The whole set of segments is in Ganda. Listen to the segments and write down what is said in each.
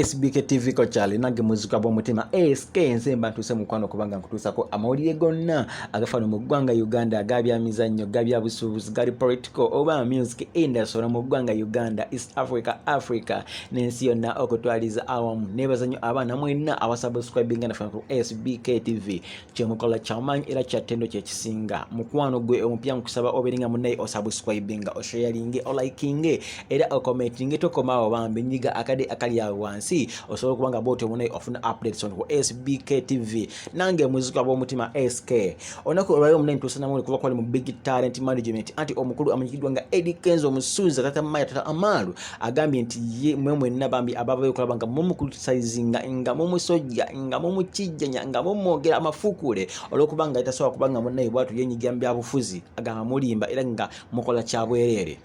SBK TV ko kyali nange muzika bw'omutima SK nze mba ntuuse mukwano kubanga nkutuusako amawulire gonna agafano mu ggwanga Uganda aga byamizannyo ga byabusuubuzi gali political oba music industry mu ggwanga Uganda East Africa Africa n'ensi yonna okutwaliza awamu nebaza nnyo abaana mwenna abasubscribinga naffe ku SBK TV kyemukola kyamaanyi era kyattendo kyekisinga mukwano gwe omupya nkusaba obeere nga munaye osubscribinga osharinge olikinge era okomentinge tokomaawo bambi nyiga akade akali awo wansi osobola okuba nga bwotyo munaye ofuna updates on sbk tv nange muzika bwomutima sk olunaku olwali omunaye ntusanamu kuba kwali mu big talent management anti omukulu amanyikiddwa nga edikenzo omusuuza tata maya tata amaalu agambye nti ye mwe mwenna bambi ababa okulaba nga mumukritisizinga nga mumusojja nga mumukijjanya nga mumwogera amafukuule olwokuba nga tasobola kuba nga munnaye bwatu yenyigira mu byabufuzi agamba mulimba era nga mukola kyabwereere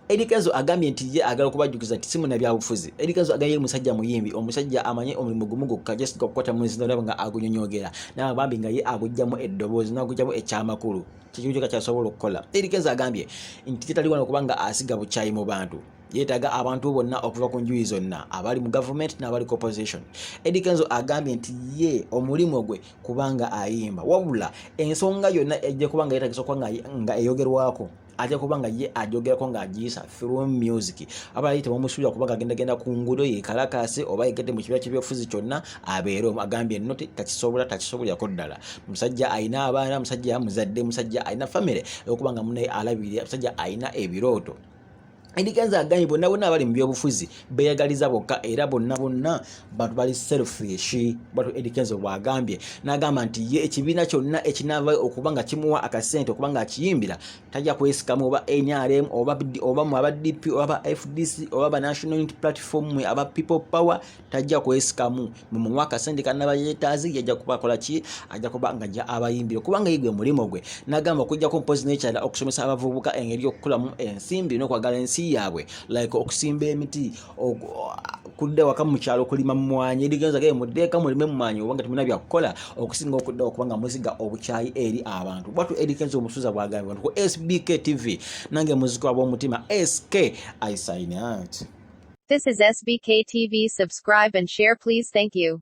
Eddy Kenzo agambye nti ye agala okubajjukiza nti simuna byabufuzi. Eddy Kenzo agambye musajja muyimbi, omusajja amanye omulimu gumu gwokka just okukwata mu nzina olaba nga agunyonyogera. N'abambi nga ye agujjamu eddoboozi n'agujjamu ekyamakulu. kyekimu kyoka kyasobola okukola erikeza agambye nti tetali wano okuba nga asiga bukyayi mu bantu yetaaga abantu bonna okuva ku njuyi zonna abali mu gavumenti n'abali ku opposition edi kenzo agambye nti ye omulimu gwe kubanga ayimba wabula ensonga yonna ejja kubanga yetagisa okuba nga eyogerwako ajja kuba nga ye ajogerako ng'agiyisa through music abali tebamusuubira kuba gagendagenda ku nguudo yekalakaase oba yegedde mu kibiina kyebyobufuzi kyonna abeere omu agambye nno takisobola takisobolirako ddala musajja alina abaana musajja yamuzadde musajja alina famire okuba nga munaye alabirira musajja alina ebirooto endiganza agambye bonna bonna abali mu byobufuzi beyagaliza bokka era bonna bonna bantu bali selfish batu edikenzo bwagambye n'agamba nti ye ekibiina kyonna ekinaavayo okuba nga kimuwa akasente okuba nga akiyimbira tajja kwesikamu oba nrm oba oba mu aba dp oba aba fdc oba aba national unity platform mwe aba people power tajja kwesikamu mwe muwa akasente kanaba yetaazi yajja kubakola ki ajja kuba nga ja abayimbire kubanga yigwe mulimu gwe nagamba okujjako mpozi n'ekyala okusomesa abavubuka engeri y'okukulamu ensimbi n'okwagala ensi yaabwe like okusimba emiti kudda waka mukyalo okulima mumwanyi erigenza gaye muddeeka mulime mumwanyi obanga temuna byakukola okusinga okudda okuba nga muziga obukyayi eri abantu bwatu erigenza omusuza bwagambye bantu ku sbk tv nange muziko ab'omutima sk i sign out This is SBK TV. Subscribe and share, please. Thank you.